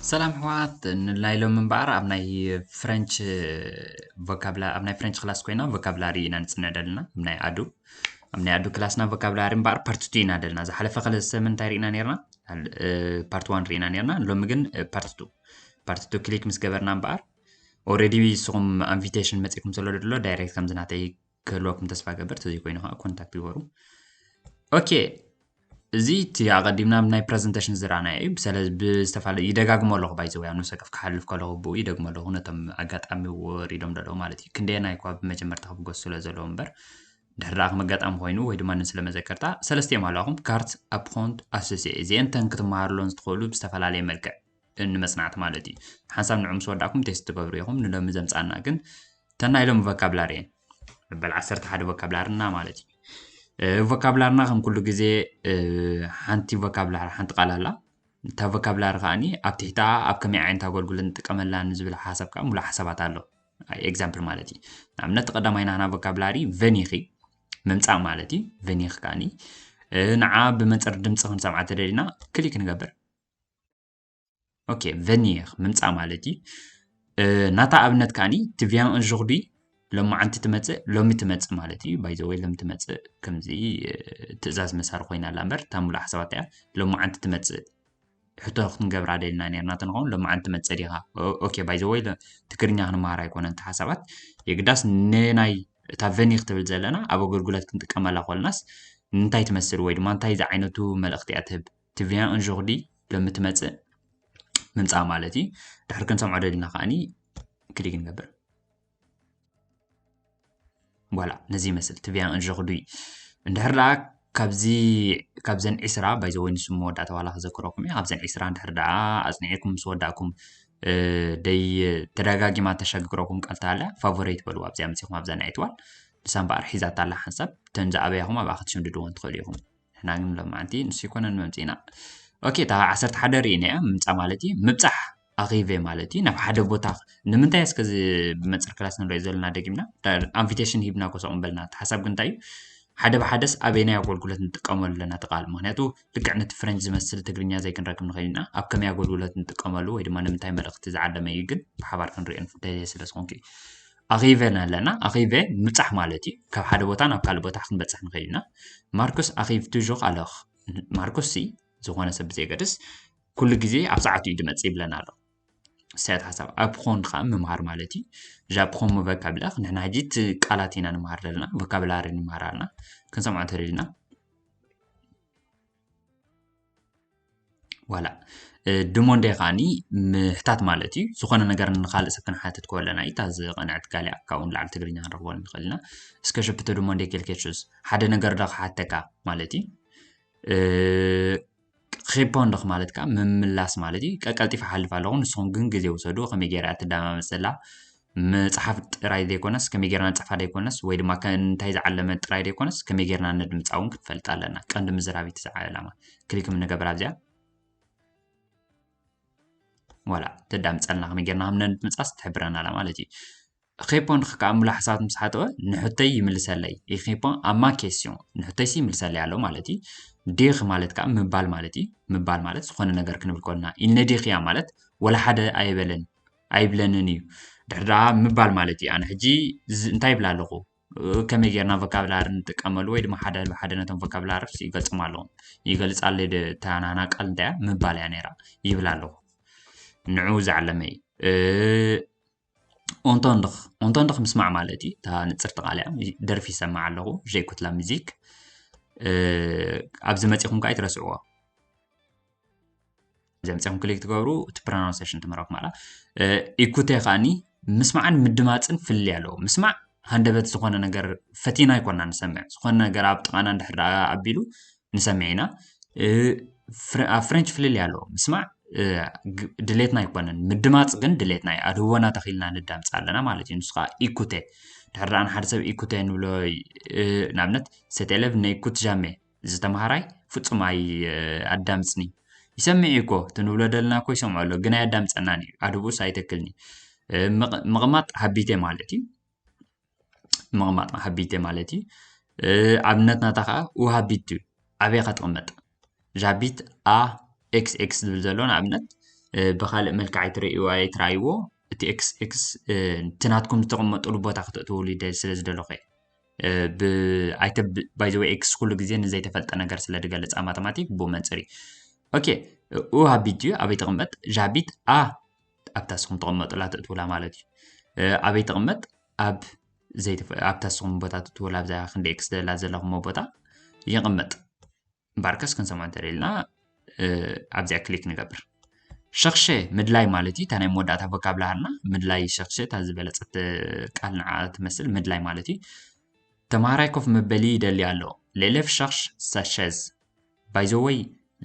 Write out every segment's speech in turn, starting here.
ሰላም ሕዋት ንላይ ሎም እምበኣር ኣብ ናይ ፍረንች ቮካብላ ኣብ ናይ ፍረንች ክላስ ኮይና ቮካብላሪ ኢና ንፅነ ደልና ኣብ ናይ ኣዱ ኣብ ናይ ኣዱ ክላስና ቮካብላሪ እምበኣር ፓርቲ ቱ ኢና ደልና ዝሓለፈ ከለ ሰምን እንታይ ርኢና ነርና ፓርቲ ዋን ርኢና ነርና ሎሚ ግን ፓርቲ ቱ ፓርቲ ቱ ክሊክ ምስ ገበርና እምበኣር ኦረዲ ንስኹም ኢንቪቴሽን መፂእኩም ዘሎ ድሎ ዳይሬክት ከምዚ ናተይ ክህልወኩም ተስፋ ገበር ተዘይ ኮይኑ ከዓ ኮንታክት ይበሩ ኦኬ እዚ እቲ ኣቐዲምና ናይ ፕረዘንቴሽን ዝረኣና እዩ ብሰለ ብዝተፈላለዩ ይደጋግሞ ኣለኹ ባይዘወ ኣብ ንሰከፍ ክሓልፍ ከለኹ ብኡ ይደግሞ ኣለኹ ነቶም ኣጋጣሚ ወሪዶም ደለዉ ማለት እዩ ክንደየና ይኳ ብመጀመርታ ክብገሱ ስለ ዘለዎ እምበር ድሕሪ ከም ኣጋጣሚ ኮይኑ ወይ ድማ ንስለ መዘከርታ ሰለስቲኦም ኣለኹም ካርት ኣፕኮንት ኣሶሲኤ እዚአን ተን ክትመሃርሎን ዝትኽእሉ ብዝተፈላለየ መልክዕ ንመጽናዕቲ ማለት እዩ ሓንሳብ ንዑ ምስ ወዳእኩም ቴስት ትገብሩ ኢኹም ንሎሚ ዘምጻና ግን ተናይ ሎሚ ቮካብላሪ እየን መበል ዓሰርተ ሓደ ቮካብላርና ማለት እዩ ቮካብላርና ከም ኩሉ ግዜ ሓንቲ ቮካብላር ሓንቲ ቃል ኣላ እታ ቮካብላሪ ከዓኒ ኣብ ትሕታ ኣብ ከመይ ዓይነት ኣገልግሎት ንጥቀመላ ንዝብል ሓሳብ ከዓ ሙሉእ ሓሳባት ኣሎ ኤግዛምፕል ማለት እዩ ንኣብነት ቀዳማይ ናህና ቮካብላሪ ቨኒኺ ምምፃእ ማለት እዩ ቨኒኺ ከዓኒ ንዓ ብመንፅር ድምፂ ክንሰምዓ ተደሊና ክሊክ ንገብር ኦኬ ቨኒር ምምፃእ ማለት እዩ ናታ ኣብነት ከዓኒ ትቪያን እንዥኹዲ ሎማዓንቲ ትመፅእ ሎሚ ትመፅእ ማለት እዩ ባይዘወይ ሎሚ ትመፅእ ከምዚ ትእዛዝ መሳሪ ኮይና ኣላ እምበር እታ ሙሉእ ሓሳባት እያ ሎማዓንቲ ትመፅእ ሕቶ ክንገብራ ደልና ነርና ተንኸውን ሎማዓንቲ ትመፅእ ዲኻ ኦኬ ባይዘወይ ትግርኛ ክንመሃር ኣይኮነን እቲ ሓሳባት የግዳስ ንናይ እታ ቨኒ ክትብል ዘለና ኣብ ኣገልግሎት ክንጥቀመላ ኮልናስ እንታይ ትመስል ወይ ድማ እንታይ ዝዓይነቱ መልእኽቲ እያ ትህብ ቲ ቪያን ኦንዦርዲ ሎሚ ትመፅእ ምምፃእ ማለት እዩ ድሕሪ ክንሰምዖ ደሊና ከዓኒ ክሊክ ንገብር ቧላ ነዚ ይመስል ቲ ቪያን ኦንዦርዲ እንድሕር ደኣ ካብዚ ካብዘን ዒስራ ባይዘወይ ንሱ መወዳእታ ዋላ ክዘክረኩም እዩ ካብዘን ዒስራ እንድሕር ደኣ ኣፅኒዕኩም ምስ ወዳእኩም ደይ ተደጋጊማ ተሸግግረኩም ቃልታ ኣላ ፋቮሬት በልዋ ኣብዚኣ መፂኹም ኣብዛ ናይ ትዋል ንሳ እምበኣር ሒዛታ ኣላ ሓንሳብ እተን ዝኣበያኹም ኣብኣ ክትሽምድድዎን ትኽእሉ ኢኹም ንሕና ግን ሎማዓንቲ ንሱ ኣይኮነን መምፂእና ኦኬ እታ ዓሰርተ ሓደ ርኢና እያ ምምፃእ ማለት እዩ ምብፃሕ ኣኺቨ ማለት እዩ ናብ ሓደ ቦታ ንምንታይ እስከ እዚ ብመንፅር ክላስ ንሪኦ ዘለና ደጊምና ኣንቪቴሽን ሂብና ኮሰቕ ንበልና እቲ ሓሳብ ግን እንታይ እዩ ሓደ ብሓደስ ኣበየናይ ኣገልግሎት ንጥቀመሉ ኣለና እቲ ቃል ምክንያቱ ልክዕ ነቲ ፍረንጅ ዝመስል ትግርኛ ዘይክንረክብ ንኽእል ኢና ኣብ ከመይ ኣገልግሎት ንጥቀመሉ ወይ ድማ ንምንታይ መልእኽቲ ዝዓለመ እዩ ግን ብሓባር ክንሪኦ ደልየ ስለ ዝኾንኩ እዩ ኣኼበ ኣለና ኣኼበ ምብጻሕ ማለት እዩ ካብ ሓደ ቦታ ናብ ካልእ ቦታ ክንበጽሕ ንኽእል ኢና ማርኮስ ኣኼብ ቱዡኽ ኣለኽ ማርኮስ ሲ ዝኾነ ሰብ ብዘየገድስ ኩሉ ግዜ ኣብ ሰዓቱ እዩ ድመጽእ ይብለና ኣሎ ሰያት ሓሳብ ኣብኾን ከዓ ምምሃር ማለት እዩ ዣብኾን መበካብላኽ ንሕና ሕጂ እቲ ቃላት ኢና ንምሃር ዘለና ቮካብላሪ ንምሃር ኣለና ክንሰምዖ እንተደሊና ዋላ ድሞንደ ከዓኒ ምሕታት ማለት እዩ ዝኾነ ነገር ንካልእ ሰብ ክንሓትት ከለና እዩ እታ ዝቐንዐት ጋሊኣ ካብኡ ንላዕሊ ትግርኛ ክንረኽቦ ንኽእል ኢና እስከ ሸፕቶ ድሞንደ ኬልኬቹስ ሓደ ነገር ዶ ክሓተካ ማለት እዩ ሪፖንዶክ ማለት ከዓ ምምላስ ማለት እዩ ቀቀልጢፈ ሓልፍ ኣለኹ ንስኹም ግን ግዜ ውሰዱ ከመይ ገይረ እያ ትደማመፅ ዘላ ምጽሓፍ ጥራይ ዘይኮነስ ከመይ ጌርና ንጽሕፋ ዘይኮነስ ወይ ድማ እንታይ ዝዓለመ ጥራይ ዘይኮነስ ከመይ ጌርና ነድምጻ እውን ክትፈልጥ ኣለና ቀንዲ ምዝራቢት እዚ ዕላማ ክሊክ ንገበር ኣብዚኣ ዋላ ተዳምፀልና ከመይ ጌርና ከም ነድምፃስ ትሕብረና ኣላ ማለት እዩ ኼፖ ንክከዓ ሙሉ ሓሳባት ምስ ሓተወ ንሕተይ ይምልሰለይ ኢኼፖ ኣማ ኬስዮን ንሕተይሲ ይምልሰለይ ኣሎ ማለት እዩ ዲኽ ማለት ከዓ ምባል ማለት እዩ ምባል ማለት ዝኾነ ነገር ክንብል ኮልና ኢልነ ዲኽያ ማለት ወላ ሓደ ኣይበለን ኣይብለንን እዩ ድሕር ድኣ ምባል ማለት እዩ ኣነ ሕጂ እንታይ ይብላ ኣለኹ ከመይ ጌርና ቮካብላሪ ንጥቀመሉ ወይ ድማ ሓደ ብሓደ ነቶም ቮካብላሪ ይገልጾም ኣለኹ ይገልጻለይ እታ ናህና ቃል እንታይ እያ ምባል እያ ነይራ ይብል ኣለኹ ንዑ ዝዓለመ እዩ ኦንቶንድኽ ኦንቶንድኽ ምስማዕ ማለት እዩ እታ ንፅርቲ ቃል እያ ደርፊ ይሰማዕ ኣለኹ ዠይኩትላ ሚዚክ ኣብዚ መፂኹም ከዓ ይትረስዕዎ ዘምፀም ክሊክ ትገብሩ እቲ ፕሮናንሴሽን ትምህረኩም ኣላ ኢኩቴ ከዓኒ ምስማዕን ምድማፅን ፍልይ ኣለዎ ምስማዕ ሃንደበት ዝኾነ ነገር ፈቲና ይኮና ንሰምዕ ዝኾነ ነገር ኣብ ጥቓና እንድሕር ደኣ ኣቢሉ ንሰምዕ ኢና ኣብ ፍሬንች ፍልልይ ኣለዎ ምስማዕ ድሌትና ኣይኮነን ምድማፅ ግን ድሌትና እዩ ኣድህቦና ተኺልና ንዳምፅ ኣለና ማለት እዩ ንሱ ከዓ ኢኩቴ ድሕር ደኣ ንሓደ ሰብ ኢኩቴ ንብሎ ንኣብነት ሰቴለቭ ነኢኩት ጃሜ እዚ ተማሃራይ ፍጹም ኣዳምጽንዩ ይሰምዕ እዩኮ እቲ ንብሎ ደለና እኮ ይሰምዖ ኣሎ ግን ኣያዳምጸናን እዩ ኣድብኡስ ኣይተክልኒ ምቕማጥ ሃቢቴ ማለት እዩ ምቕማጥ ሃቢቴ ማለት እዩ ኣብነት ናታ ከዓ ውሃቢት እዩ ኣበይ ከትቕመጥ እዛ ሃቢት ኣ ኤክስ ኤክስ ዝብል ዘሎ ንኣብነት ብካልእ መልክዕ ኣይትርእይዎ ኣይትረኣይዎ እቲ ኤክስ ኤክስ እቲ ናትኩም ዝተቐመጡሉ ቦታ ክተእትውሉ ስለ ዝደለኹ እየ ብኣይተ ባይ ዘ ወይ ኤክስ ኩሉ ግዜ ንዘይተፈልጠ ነገር ስለ ዝገልጽ ኣብ ማተማቲክ ብኡ መንጽር እዩ ኦኬ ኡ ሃቢት ድዩ ኣበይ ትቕመጥ ዣቢት ኣ ኣብታ ስኹም ተቐመጡላ ተእትውላ ማለት እዩ ኣበይ ትቕመጥ ኣብ ኣብታ ስኹም ቦታ ተእትውላ ኣብዛ ክንደ ኤክስ ደላ ዘለኹሞ ቦታ ይቕመጥ እምበኣርከስ ክንሰምዖ እንተደሊና ኣብዚኣ ክሊክ ንገብር ሸኽሸ ምድላይ ማለት እዩ እታ ናይ መወዳእታ ቮካብላርና ምድላይ ሸኽሸ እታ ዝበለፀት ቃል ንዓ ትመስል ምድላይ ማለት እዩ ተምሃራይ ኮፍ መበሊ ይደሊ ኣሎ ሌሌፍ ሸኽሽ ሳሸዝ ባይዘወይ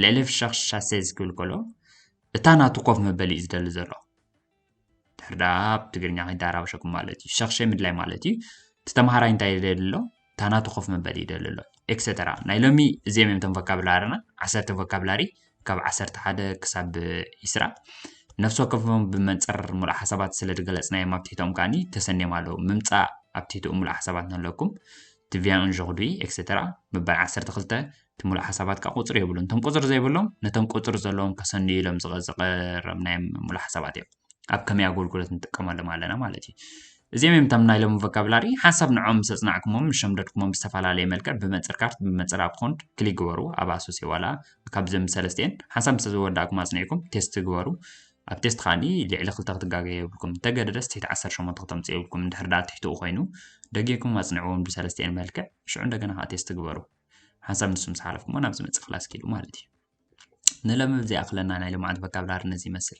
ሌሌፍ ሸኽሽ ሻሴዝ ክብል ከሎ እታ ናቱ ኮፍ መበሊ እዩ ዝደሊ ዘሎ ድሕር ደኣ ኣብ ትግርኛ ኮይንካ ኣራብሸኩም ማለት እዩ ሸኽሸ ምድላይ ማለት እዩ እቲ ተምሃራይ እንታይ ይደሊ ኣሎ እታ ናቱ ኮፍ መበሊ ይደሊ ኣሎ ኤክሰተራ ናይ ሎሚ እዚኦም እዮም እቶም ቮካብላርና ዓሰርተ ቮካብላሪ ካብ ዓሰርተ ሓደ ክሳብ ይስራ ነፍሲ ወከፎም ብመንፅር ሙሉእ ሓሳባት ስለ ዝገለፅናዮም ኣብ ትሕቶም ከዓኒ ተሰንዮም ኣለዉ ምምፃእ ኣብ ትሕትኡ ሙሉእ ሓሳባት ንለኩም እቲ ቪያ ኡን ዦክዱኢ ኤክሰተራ ምባል ዓሰርተ ክልተ እቲ ምሉእ ሓሳባት ከኣ ቁጽሪ የብሉን እቶም ቁጽሪ ዘይብሎም ነቶም ቁጽሪ ዘለዎም ከሰንዩ ኢሎም ዝቐረብናዮም ምሉእ ሓሳባት እዮም ኣብ ከመይ ኣገልግሎት ንጥቀመሎም ኣለና ማለት እዩ እዚኦም እዮም እቶም ናይ ሎሚ ቮካብላሪ ሓንሳብ ንዖም ምስ ኣጽናዕኩሞም ምስ ሸምደድኩሞም ብዝተፈላለየ መልክዕ ብመንጽር ካርት ብመንጽር ኣብ ኮንድ ክሊክ ግበሩ ኣብ ኣሶሴ ዋላ ካብዞም ሰለስቲኤን ሓንሳብ ምስ ዝወዳእኩም ኣጽኒዕኩም ቴስት ግበሩ ኣብ ቴስት ከኣኒ ልዕሊ ክልተ ክትጋገዩ የብልኩም እንተገደደስ ትሕቲ ዓሰርተ ሸሞንተ ክተምጽኡ የብልኩም እንድሕር ደኣ ትሕትኡ ኮይኑ ደጊርኩም ኣጽንዕዎም ብሰለስቲኤን መልክዕ ሽዑ እንደገና ከኣ ቴስት ግበሩ ሓንሳብ ንሱ ምስ ሓለፍኩሞ ናብ ዝመጽእ ክላስ ኪዱ ማለት እዩ ንለምብ ዘይኣኽለና ናይ ልምዓት ቮካብላሪ ነዚ ይመስል